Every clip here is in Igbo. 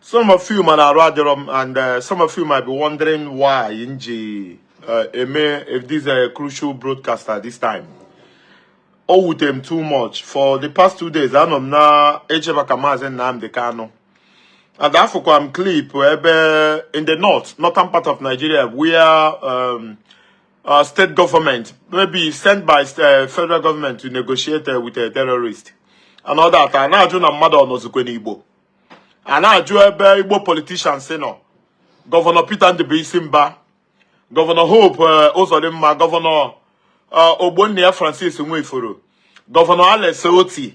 some of you mana arụ adịrọ m and uh, some of you might be wondering why m ji uh, eme if this a crucial broadcast at this time o wute m too much for the past two days anọ m na eche maka maazị Nnamdi Kanu and afụkwa m clip ebe in the north northern part of Nigeria where um, uh, state government, maybe sent by uh, federal government to negotiate uh, with a terrorist. And all that. A na-ajụ na mmadụ ọ nọzikwa n'Igbo. A na-ajụ ebe Igbo politicians nọ. Gọvanọ Peter Ndụbụisi Mba, Gọvanọ Hope uh, Uzodimma, Gọvanọ uh, Ogbonnia Francis Nwifuru, Gọvanọ Alex Otti,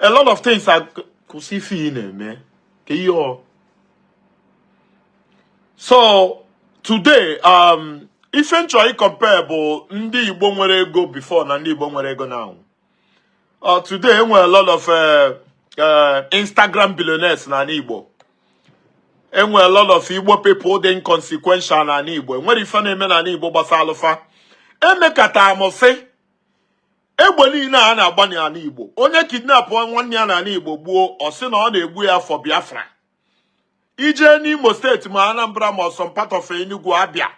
a lot of things are kwụsị ife ị na-eme ka ihe ọ so today um ife m chọrọ ịcompare bụ ndị Igbo nwere ego before na ndị Igbo nwere ego now uh, today enwere a lot of uh, uh, Instagram billionaires na anị Igbo enwere a lot of Igbo people dị inconsequential na anị Igbo enwere ife na-eme na anị Igbo gbasalụ fa emekata m sị egbe niile a na-agba n'anị Igbo onye kidnapụ nwanne ya n'anị Igbo gbuo ọ sị na ọ na-egbu ya for Biafra i jee n'Imo steeti ma Anambra ma some part of Enugu Abia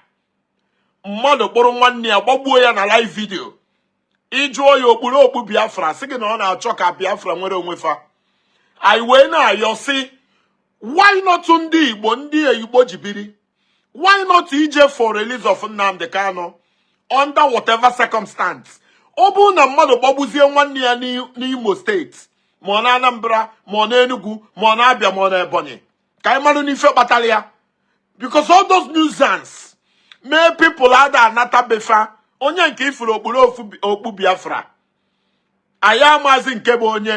mmadụ kpụrụ nwanne ya gbagbuo ya na live video ị jụọ ya o kpuru okpu Biafra sị gị na ọ na-achọ ka Biafra nwere onwe fa anyị wee na-ayọ sị why not ndị Igbo ndị Igbo ji biri why not ije for release of Nnamdi Kanu under whatever circumstance ọ bụrụ na mmadụ gbagbuzie nwanne ya n'Imo steeti ma ọ na Anambra ma ọ na Enugu ma ọ na Abia ma ọ na Ebonyi ka anyị marụ n'ife kpatara ya because all those nuisance mee people ada anata be fa onye nke ị fụrụ o kpuru okpu Biafra anyị amazi nke bụ onye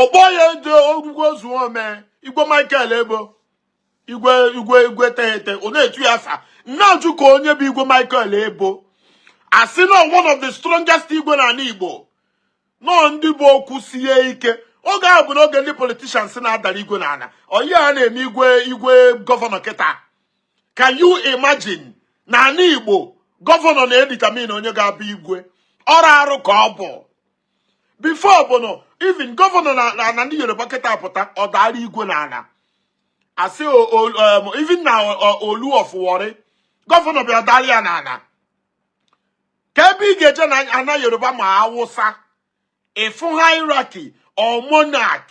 ọgbọ ya eje orugwo zuo ome igwe michael ebo igwe igwe igwe teghete ọ na-etu ya afa m na-ajụ ka onye bụ igwe michael ebo a sị na one of the strongest igwe na anị igbo nọọ ndị bụ okwu sie ike oge ahụ bụ n'oge ndị politicians na-adara igwe n'ana onye na-eme igwe gọvanọ kịta can you imagine na anị igbo gọvanọ na-edetermine onye ga-abụ igwe arụ arụ ka ọ bụ before bụ na even gọvanọ na anị yoruba kịta pụta ọ daara igwe na ana a sị even na olu of warri gọvanọ bịa daara ya na ana ka ebe ị ga-eje na ana yoruba ma awụsa ị fụ hierarchy or monarch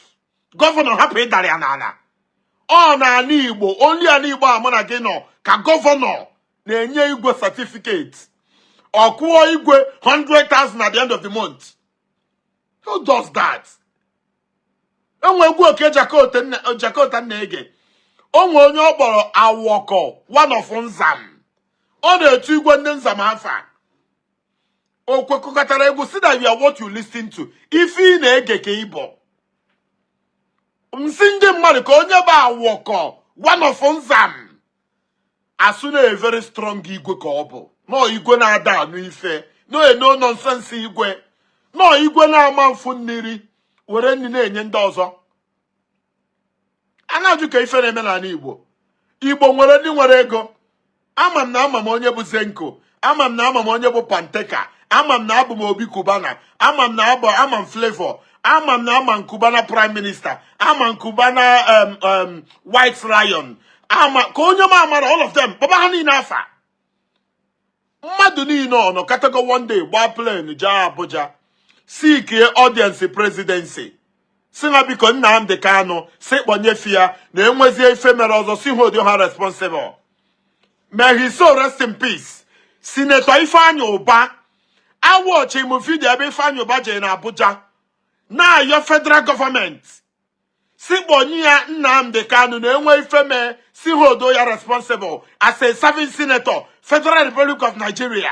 gọvanọ hapụ ịdara ya n'ana ọ na ana igbo only anị igbo a mụ na gị nọ ka gọvanọ na-enye igwe certificate ọ kwụọ igwe 100,000 at the end of the month who does that o nwe egwu okey jakota m na-ege o nwe onye ọ kpọrọ awọkọ one of nzam ọ na-etu igwe ndị nzam afa o kwekatara egwu sị that you are what you listen to ife ị na-ege ka ị bụ m sị ndị mmadụ ka onye bụ awọkọ one of nzam asụ na a very strong igwe ka ọ bụ nọọ igwe na-ada anụ ife nọọ a no nonsense igwe nọọ igwe na-ama mfu mmiri were nri na-enye ndị ọzọ a na-ajụ ka ife na-eme n'anị Igbo Igbo nwere ndị nwere ego ama m na ama m onye bụ Zenco ama m na ama m onye bụ panteka ama m na abụ m Obi Cubana ama m na abụ ama m Flavour ama m na ama m Cubana Prime Minister ama m Cubana White Lion ama ka onye m amara all of them kpọba ha niile afa mmadụ niile ọ nọkatago one day gbaa plane jee abuja seekie audience presidency si ha biko Nnamdi Kanu si kpọnye fa ya na enwezie ife mere ọzọ si hold ha responsible May his soul rest in peace. Senator Ifeanyi Ubah, a watchiri m video ebe Ifeanyi Ubah jere na Abuja na-ayọ federal government. Si kpọnye ya Nnamdi Kanu na enwe ife mee si ha hold ya responsible as a serving senator Federal Republic of Nigeria.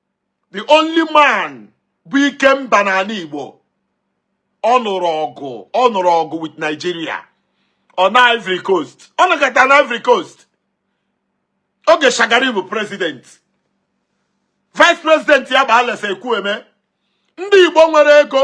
the only man bụ ikemba n'anị igbo ọ nụrụ ọgụ ọ nụrụ ọgụ with nigeria ọ nọ ivory coast ọ nọkata na ivory coast oge shagari bụ president vice president ya bụ Alex Ekwueme ndị igbo nwere ego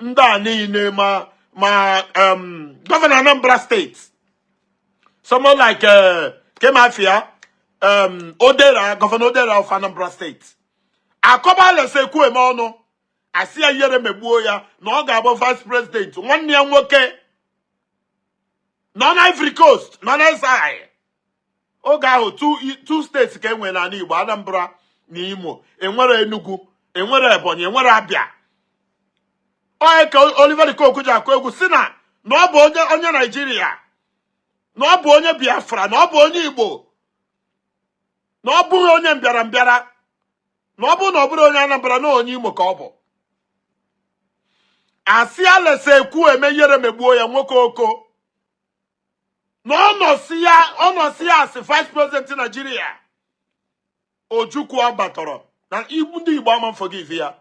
ndị a niile ma ma um, governor Anambra State someone like uh, kee maa afa ya um, Odera Governor Odera of Anambra State akọba Alex Ekwueme ọnụ asị ya ihere megbuo ya na ọ ga-abụ vice president nwanne ya nwoke nọ na Ivory Coast nọ na exile oge ahụ two states ka e nwere n'anị Igbo Anambra na Imo enwerọ Enugu enwerọ Ebonyi enwerọ Abia onye ka Oliver de Coque ji akụ egwu si na na ọ bụ onye onye Naijiria na ọ bụ onye Biafra na ọ bụ onye Igbo na ọ bụrọ onye mbịara mbịara na ọ bụrụ na ọ bụrụ onye Anambra na onye Imo ka ọ bụ asị Alex Ekwueme ihere megbuo ya nwoke Oko na ọ nọsịa ọ nọsịa as vice president Nigeria Ojukwu abatarọ na Igbo ndị Igbo ama forgive ya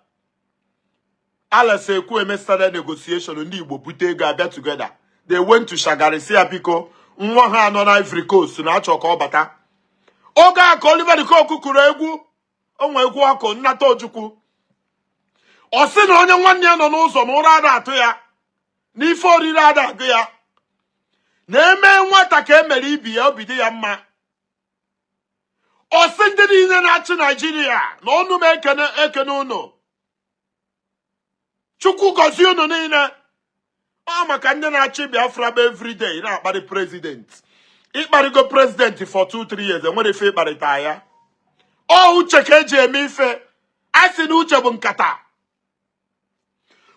Alex Ekwueme started negotiation ndị Igbo bute ego abịa together they went to Shagari si ya biko nwa ha a nọ na Ivory Coast na achọ ka ọ bata oge a ka Oliver de Coque kụrụ egwu o nwee egwu ọ kụ nnata ojukwu ọ sị na onye nwanne ya nọ n'ụzọ na ụra ada atụ ya na ife oriri ada agụ ya na e mee nwata ka emere ibe ya obi dị ya mma ọ sị ndị niile na-achị naijiria na ọnụ m ekene ekene ụnụ chukwu gọzie unu niile ọ maka ndị na-achị biafra bụ everyday na-akparị prezident ịkparịgo prezident for 2-3 years enwere ife ịkparịta ya ọ uche ka eji eme ife a sị na uche bụ nkata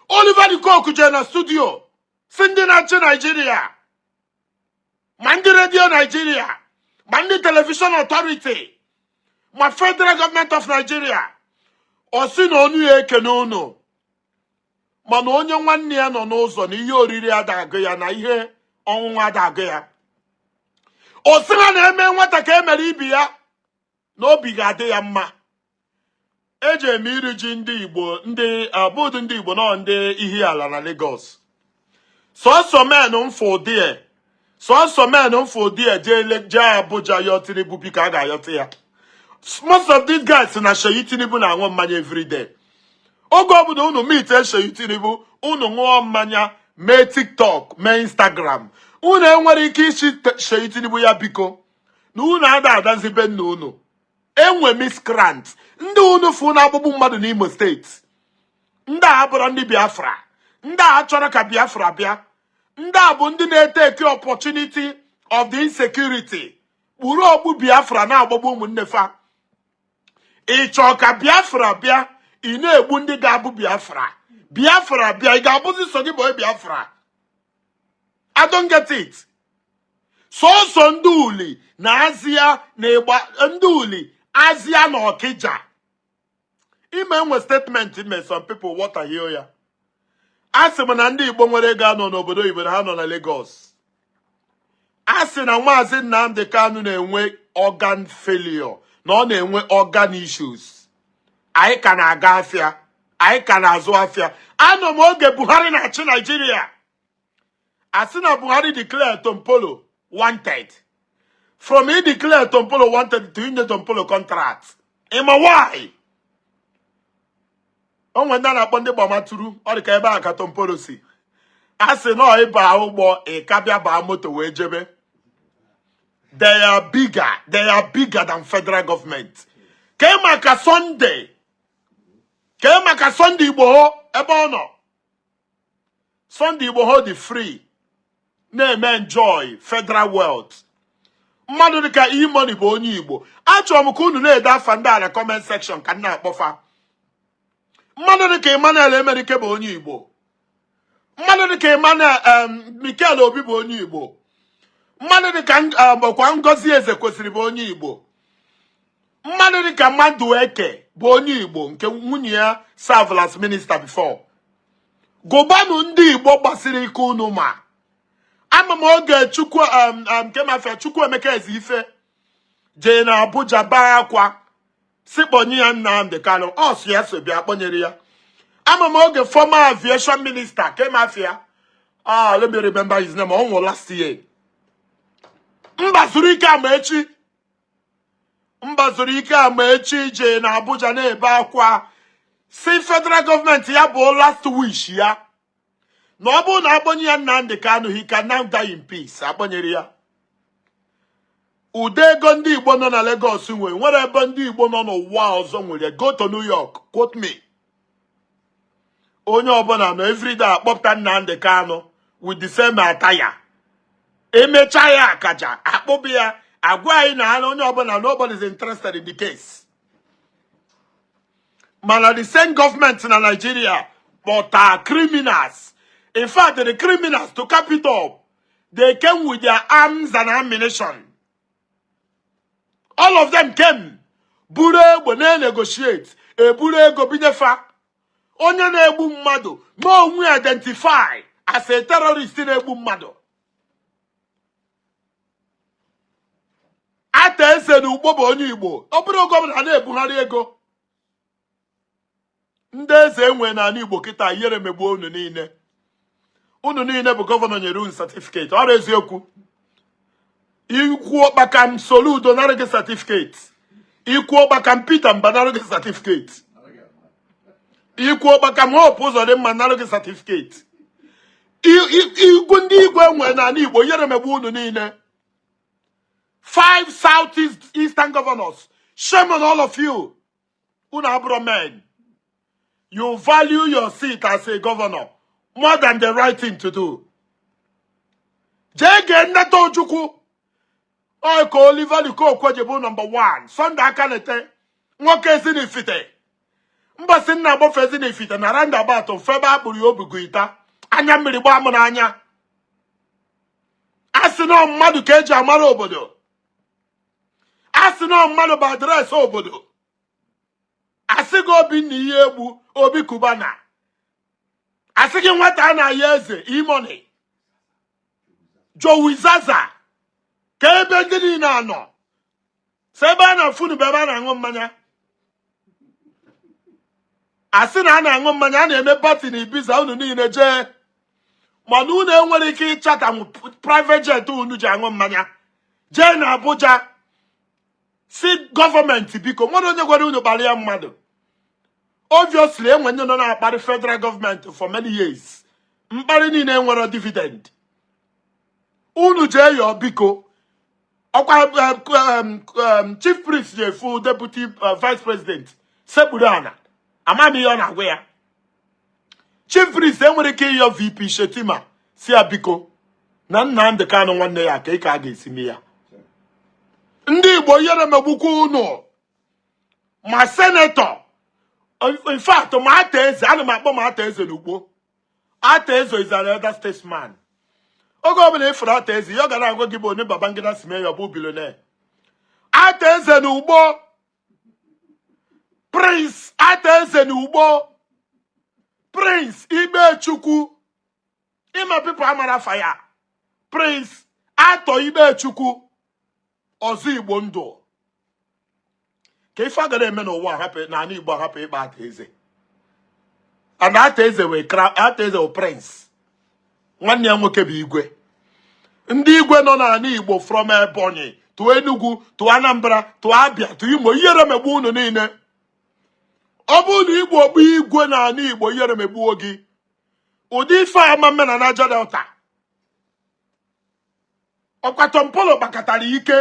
Oliver de Coque jee na studio sị ndị na-achị naijiria ma ndị redio naijiria ma ndị telivishọn ọtọriti ma federal gọọmenti of naijiria ọ sị na onu ya ekene unu mana onye nwanne ya nọ n'ụzọ na ihe oriri ada agụ ya na ihe ọṅụṅụ ada agụ ya ọ sị ha na eme nwata ka emere ibe ya na obi ga-adị ya mma eji eme iri ji ndị igbo ndị abụdị ndị igbo nọ ndị Ihiala na Lagos sọsọ men m fụ there sọsọ men m fụ there jee Abuja yọọ Tinubu biko a ga-ayọta ya most of these guys na Seyi Tinubu na-aṅụ mmanya everyday oge ọbụla unu meet Seyi Tinubu unu ṅụọ mmanya mee TikTok mee Instagram unu enwere ike ịsị Seyi Tinubu ya biko na unu ada anazi be nna unu enwe miskrant ndị unu fụ na-agbagbu mmadụ n'Imo steeti ndị a abụrọ ndị Biafra ndị a achọrọ ka Biafra bịa ndị a bụ ndị na-eteki opportunity of the insecurity kpuru okpu Biafra na-agbagbu ụmụnne fa ị chọ ka Biafra bịa ị na-egbu ndị ga-abụ Biafra Biafra bịa ị ga-abụzi sọ gị bụ Biafra I don't get it sọsọ ndị uli na azịa na ịgba ndị uli azịa na ọkịja ịma enwe statement m me some people wọtahie ya a sị m na ndị igbo nwere ego anọ n'obodo oyibo na ha nọ na Lagos a sị na maazị Nnamdi Kanu na-enwe organ failure na ọ na-enwe organ issues anyị ka na-aga afịa anyị ka na-azụ afịa anọ m oge Buhari na-achị Naijiria a sị na Buhari declare Tompolo wanted from ị declare Tompolo wanted to inye Tompolo contract ịma why o nwere ndị a na-akpọ ndị gbamaturu ọ dị ka ebe a ka Tompolo si a sị na ị ba ụgbọ ị ka bịa baa moto wee jebe they are bigger they are bigger than federal government kee maka Sunday kee maka Sunday Igboho ebe ọ nọ Sunday Igboho dị free na-eme enjoy federal wealth mmadụ dịka E-Money bụ onye Igbo achọrọ m ka unu na-ede afa ndị a na comment section ka m na-akpọ fa mmadụ dịka Emmanuel Emenike bụ onye Igbo mmadụ dịka Emmanuel Mikel Obi bụ onye Igbo mmadụ dịka ọkwa Ngozi Ezekwesili bụ onye Igbo mmadụ dịka Madueke bụ onye Igbo nke nwunye ya served as minister before gụbanụ ndị Igbo gbasiri ike unu ma ama m oge Chukwuemeka Ezeife jee na Abuja baa akwa sị kpọnye ya Nnamdi Kanu ọ sị ya so bịa kpọnyere ya ama m oge former aviation minister kee afa ya ah let me remember his name ọ nwụrụ last year Mbazulike Amaechi Mbazulike Amaechi jee na Abuja na-ebe akwa sị federal gọọmenti ya bụ last wish ya na ọ bụrụ na akpọnye ya Nnamdi Kanu he can now die in peace akpọnyere ya ụdị ego ndị Igbo nọ na Lagos nwere nwere ebe ndị Igbo nọ n'ụwa ọzọ nwere go to New York quote me onye ọbụla nọ everyday akpọpụta Nnamdi Kanu with the same attire emecha ya akaja akpọba ya agwa anyị na na onye ọbụla nobody is interested in the case mana the same government na Nigeria kpọta criminals in fact the criminals to cap it all they came with their arms and ammunition all of them came buru egbe na-negotiate eburu ego binyefa onye na-egbu mmadụ na onye identify as a terrorist na-egbu mmadụ ata eze na ugbo bụ onye igbo ọ bụrụ gọvanọ na-ebugharị ego ndị eze e nwe n'Igbo kịta ihere megbuo unu niile unu niile bụ gọvanọ nyere unu satifiketi ọ bụrọ eziokwu i kwuo kpakam Soludo nara gị satifiketi i kwuo kpakam Peter Mba nara gị satifiketi i kwuo kpakam Hope Ụzọdịmma nara gị satifiketi igwu ndị igwe e nwe n'Igbo ihere megbuo unu niile five southeast eastern governors shame on all of you unu abụrọ men you value your seat as a governor more than the right thing to do jee gee Nnata Ojukwu ọ ya ka Oliver De Coque ji bụ nọmba 1 Sunday Akanite nwoke ezinifite mbọsị m na-agbafe ezinifite na roundabout fụ ebe a kpụrụ ya o bu guitar anya mmiri gbaa m n'anya a sị na mmadụ ka eji amara obodo a sị na mmadụ bụ adreesị obodo a sị gị Obinna Iyiegbu Obi Cubana a sị gị Nwata Anayo Eze E-Money Jowizaza kee ebe ndị niile a nọ sọ ebe a na-afụ unu bụ ebe a na-aṅụ mmanya a sị na a na-aṅụ mmanya a na-eme party na Ibiza unu niile jee mana unu enwerọ ike ịchata private jet unu ji aṅụ mmanya jee na Abuja sị gọọmenti biko nwere onye gwara unu kparịa mmadụ obviously enwe ndị nọ na-akparị federal government for many years mkparị niile enwerọ dividend unu jee yọọ biko ọkwa chief priest jee fụ deputy uh, vice president sekpuru ana ama m ihe ọ na-agwa ya chief priest enwerọ ike ịyọ VP Shettima sị ya biko na Nnamdi Kanu nwanne ya ka ị ka a ga-esi mee ya ndị Igbo ihere megbukwa unu ma senator in fact ma Arthur Eze ana m akpọ ma Arthur Eze n'Ukpo Arthur Eze is an elder statesman. Oge ọbụla ị fụrụ Arthur Eze, ihe ọ ga na-agwa gị bụ onye Babangida si mee ya ọ bụ billionaire. Arthur Eze na Ukpo Prince Arthur Eze na Ukpo Prince Ikpechukwu ị ma people amarọ afa ya Prince Arthur Ikpechukwu Ọzọ Igbo Ndụ kee ife a gara eme n'ụwa hapụ n'ala Igbo hapụ ịkpọ Arthur Eze and Arthur Eze is a prince nwanne ya nwoke bụ igwe ndị igwe nọ n'ala Igbo from Ebonyi to Enugu to Anambra to Abia to Imo ihere megbu unu niile ọ bụrụ na ị bụ igwe n'ala Igbo ihere megbuo gị ụdị ife a ama mme na Niger Delta ọkwa Tompolo kpakatara ike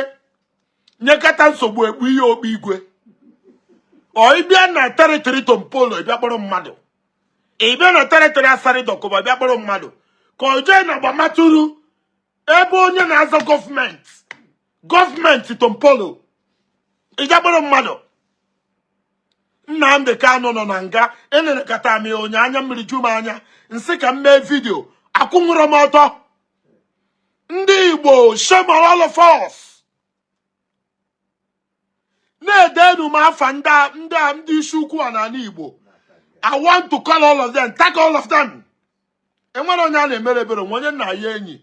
nyekata nsogbu ekpu ya okpu igwe ọ ị bịa na territory Tompolo bịa kpọrọ mmadụ ị bịa na territory Asari Dokubo bịa kpọrọ mmadụ ka o jee na Gbaramatu ebe onye na-aza Government Government Tompolo ịbịa kpọrọ mmadụ Nnamdi Kanu nọ na nga enenekata m ya anya anya mmiri ju m anya m sị ka m mee video akwụnwurọ m ọtọ ndị Igbo shame on all of us na-edenu m afa ndị isi ukwu a n'ala Igbo I want to call all of them, tag all of them. enwerọ onye a na-emere ebere nwe onye nna ya enyi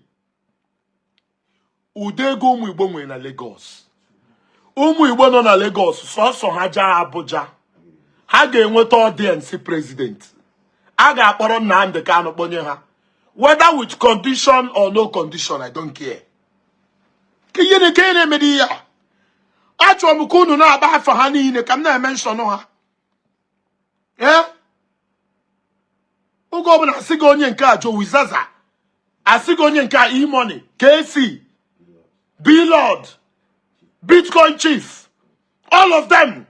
ụdị ego ụmụ Igbo nwere na Lagos ụmụ Igbo nọ na Lagos sọsọ ha jaa Abuja ha ga-enweta audience president a ga-akpọrọ Nnamdi Kanu kpọnye ha whether with condition or no condition I don't care ka ihe na-eke na-emedi ya achọrọ m ka unu na-agba afa ha niile ka m na-emention ha ee oge ọbụla asị gị onye nke a Jowi Zaza asị gị onye nke a E-Money KC Blord Bitcoin Chief all of them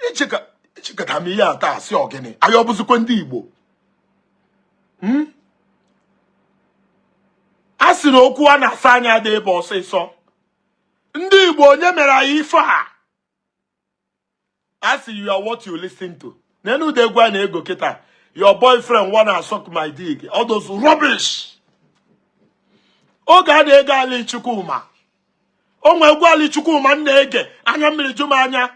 echekata m ihe a ta asị ọ gịnị anyị ọ bụzikwa ndị Igbo hmm? a sị na okwu a na-asa anya dị ebe ọsịsọ ndị igbo onye mere anyị ife a a sị you are what you listen to n'elu ụda egwu a na-ege kịta your boyfriend wanna suck my dick all those rubbish oge a na-ege Ali Chukwuma o nwe egwu Ali Chukwuma m na-ege anya mmiri ju m anya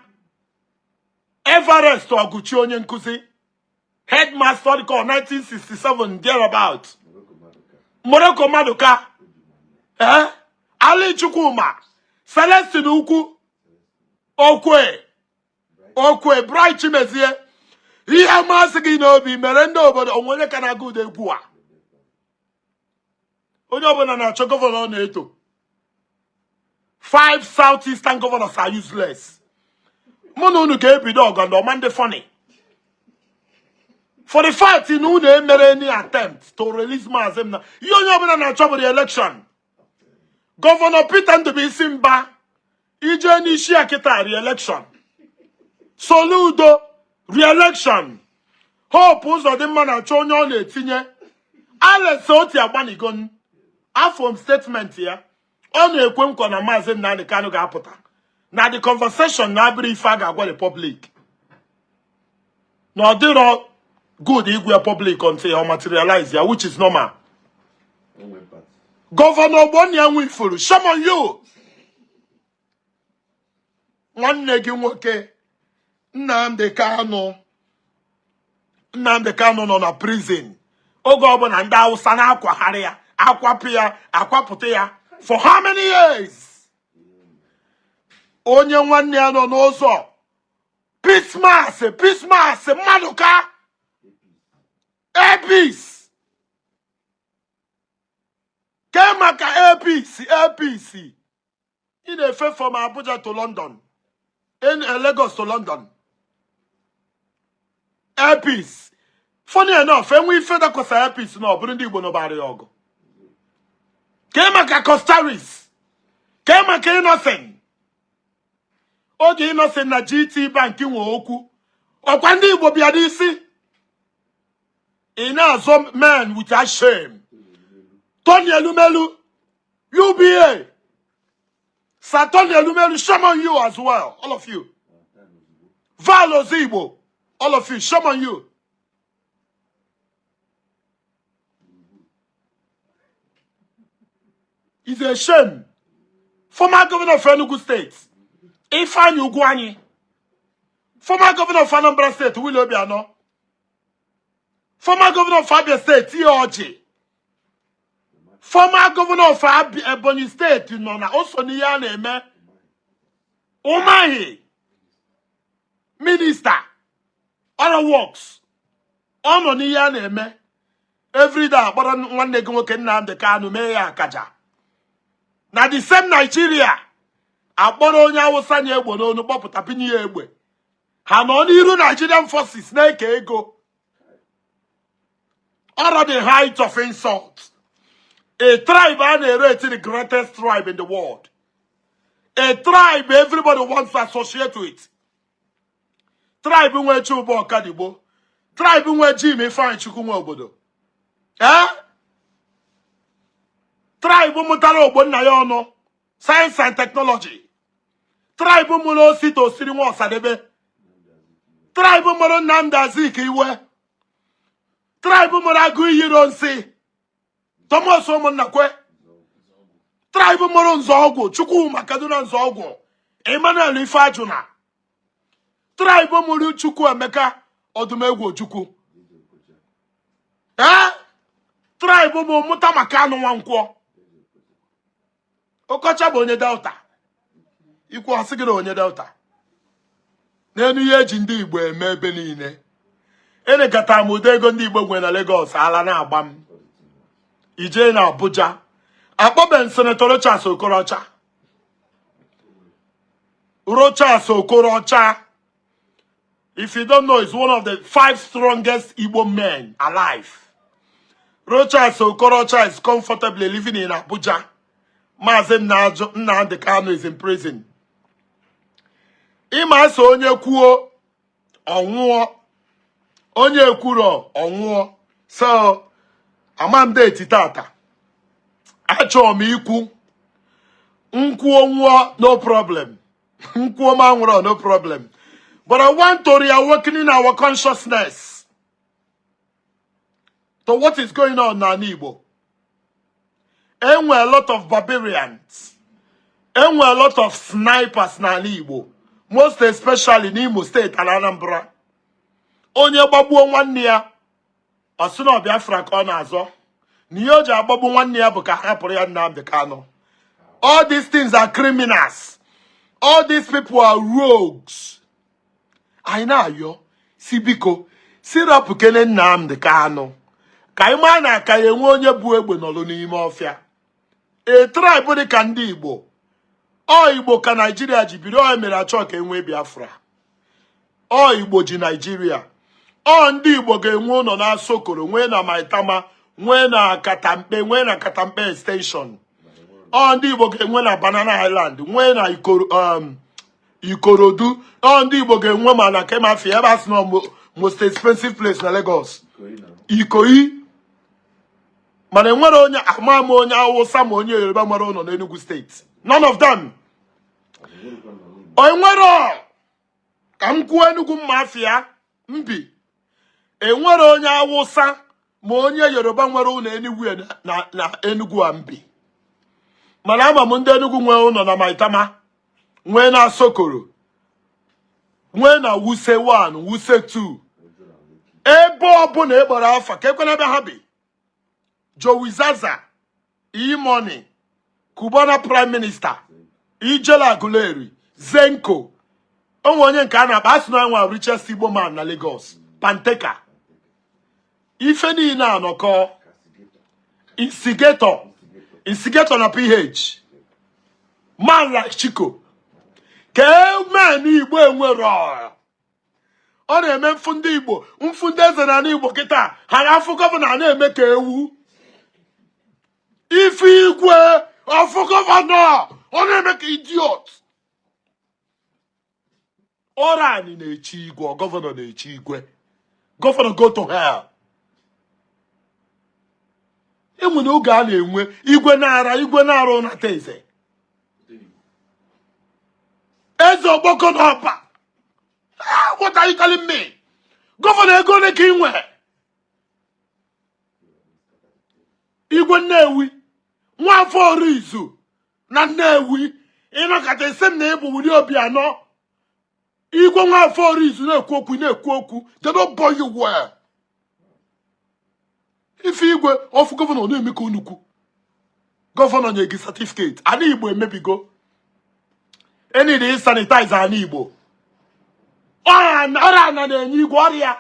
Everest Oguchi onye nkụzi headmaster dịka 1967 thereabout Morocco Maduka ee Ali Chukwuma Celestine Ukwu okwe okwe Bright Chimezie ihe masị gị n'obi mere ndị obodo o nwe onye ka na-agụ ụda egwu a onye ọbụla na-achọ gọvanọ ọ na-eto five south eastern governors are useless mụ na unu ga-ebido ọgụ ndị ọ ma adị funny for the fact na unu emerọ any attempt to release maazị m na ihe onye ọbụla na-achọ bụ re-election gọvanọ Peter Ndubuisi Mba i je n'isi ya kịta re-election Soludo re-election Hope Uzodimma na-achọ onye ọ na-etinye Alex Otti agbanịgo afụ m statement ya ọ na-ekwe nkwa na maazị Nnamdi Kanu ga-apụta na the conversation na abụrọ ife a ga-agwa the public na ọ dịrọ good ịgwa public until ọ materialize ya which is normal gọvanọ Ogbonnia Nwifuru shame on you nwanne gị nwoke Nnamdi Kanu Nnamdi Kanu nọ na prison oge ọbụla ndị Hausa na-akwagharị ya akwapụ ya akwapụta ya for how many years onye nwanne ya nọ n'ụzọ Peace Mass Peace Mass mmadụ ka Air Peace kee maka Air Peace Air Peace ị na-efe from abuja to london in eh, lagos to london Air Peace funny enough enwe ife dakwasa Air Peace na ọ bụrụ ndị igbo nụbara ya ọgụ kee maka Coscharis kee maka Innoson oge Innoson na GT Bank nwe okwu ọkwa ndị Igbo bịa n'isi ị na-azọ men without shame Tony Elumelu UBA Sir Tony Elumelu shame on you as well all of you Val Ozigbo all of you shame on you is a shame former governor of Enugu state Ifeanyi Ugwuanyi former governor of Anambra state Willie Obiano former governor of Abia state T.A. Orji former governor of Ebonyi state nọ na o so n'ihe a na-eme Umahi minista ọrụ works ọ nọ n'ihe a na-eme everyday akpọrọ nwanne gị nwoke Nnamdi Kanu mee ya akaja na the same Nigeria akpọrọ onye awụsa na-egbu unu kpọpụta bunye ya egbe ha nọ n'iru Nigerian forces na-eke ego ọrọ the height of insult a tribe a na-rate the greatest tribe in the world a tribe everybody wants to associate with tribe nwe Chuba Ọkadigbo tribe nwe Jim Ifeanyichukwu Nwobodo ee tribe mụtara Ogbonnaya Ọnụ science and technology tribe mụrụ Osita Osiri nwa Ọsadebe tribe mụrụ Nnamdi Azikiwe tribe mụrụ Agụiyi Ironsi Thomas Ụmụnnakwe tribe mụrụ Nzeogwu Chukwuma Kaduna Nzeogwu Emmanuel Ifeajuna tribe mụrụ Chukwuemeka Odumegwu Ojukwu ee tribe mụ mụta ma Kanu Nwankwọ okocha bụ onye delta i kwuo a sị gị na onye delta neenụ ihe eji ndị igbo eme ebe niile enekata m ụdị ego ndị igbo nwe na Lagos ala na-agba m i je na Abuja akpọbe senetọ Rochas Okorocha Rochas Okorocha If you don't know, he's one of the five strongest Igbo men alive. Rochas Okorocha is comfortably living in Abuja. Maazị Nnamdi Kanu is in prison. Ị ma a sị onye kwuo ọ nwụọ onye kwuru ọ nwụọ so ama m deeti tata achọ m ikwu m kwuo nwụọ no problem m kwuo m anwụrụ no problem but I want to reawaken in our consciousness to what is going on n'ana Igbo enwe a lot of barbarians enwe a lot of snipers n'anị Igbo most especially n'Imo steeti na Anambra onye gbagbuo nwanne ya ọ sị na ọ Biafra ka ọ na-azọ na ihe o ji agbagbu nwanne ya bụ ka a hapụrụ ya Nnamdi Kanu all these things are criminals all these people are rogues anyị na-ayọ sị biko sị rapụkene Nnamdi Kanu ka anyị maa na a ka ya-enwe onye bu egbe nọlụ n'ime ọfịa a tribe dị ka ndị Igbo ọ Igbo ka Naijiria ji biri o mere a chọ ka e nwee Biafra ọ Igbo ji Naijiria ọ ndị Igbo ga-enwe ụnọ na Asokoro nwee na Maitama nwee na Katampe nwee na Katampe extension ọ ndị Igbo ga-enwe na Banana Island nwee na um, Ikorodu ọ ndị Igbo ga-enwe ma na Kemafi ebe a sị na most expensive place na Lagos Ikoyi mana enwerọ onye ama ama onye awụsa ma onye yoruba nwere ụnọ n'Enugu steeti none of them enwerọ ka m kwuo Enugu mafia m bi enwerọ onye awụsa ma onye yoruba nwere ụnọ Enugu na Enugu a m bi mana ama m ndị Enugu nwee ụnọ na Maitama nwee na Asokoro nwee na Wuse 1 Wuse 2 ebe ọbụla ị kpọrọ afa ka e kwe na ebe ha bi Jowizaza E-Money Cubana Prime Minister Ijele Aguleri Zenco o nwe onye nke a na-akpọ a sị na nwa richest Igbo man na Lagos Panteka ife niile anọkọ Instigator na PH man like Chico kee men Igbo enwerọ ọ na-eme m fụ ndị igbo m fụ ndị eze n'anị igbo kịta ha na-afụ gọvanọ na-eme ka ewu ị fụ igwe ọ fụ gọvanọ ọ na-eme ka idiot ọrọ anyị na-echi igwe gọvanọ na-echi igwe gọvanọ go to hell e nwere oge a na-enwe igwe na-ara igwe na-arụ nata eze eze Okpoko na Ọba Ah, what are you telling me? Gọvanọ ego one ka i nwe? Igwe Nnewi, Nwafọ Orizu na Nnewi, ị nọkata ị sị m na ị bụ Willie Obiano. Igwe Nwafọ Orizu na-ekwu okwu, ị na-ekwu okwu, they no born you well. ife igwe ọfụ gọvanọ na-eme ka unu kwu gọvanọ nye gị satifiketi ana igbo emebigo e need ịsanitaiz ana igbo ọra ana na-enye igwe ọrịa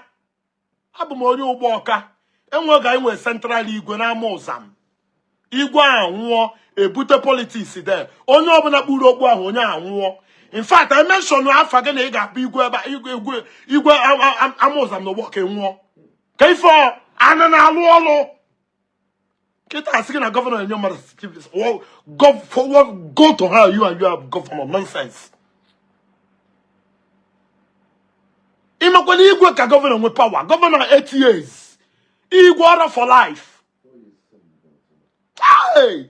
abụ m onye ụgbọ ọka enweghị anyị nwere central igwe n'ama ụzam igwe anwụọ e bute politiks there onye ọbụla kpuru okpu ahụ onye a nwụọ in fact I mention afa gị na ị ga-abụ igwe ebe igwe igwe igwe ama ụzam na ụgbọ ọka nwụọ ka ife ana na-alụ ọlụ kịta a sị gị na gọvanọ enye mmadụ go to hell you and your gọvanọ nonsense ị makwa na igwe ka gọvanọ nwe pawa gọvanọ 8 years Igwe ọ bụ for life. Hey!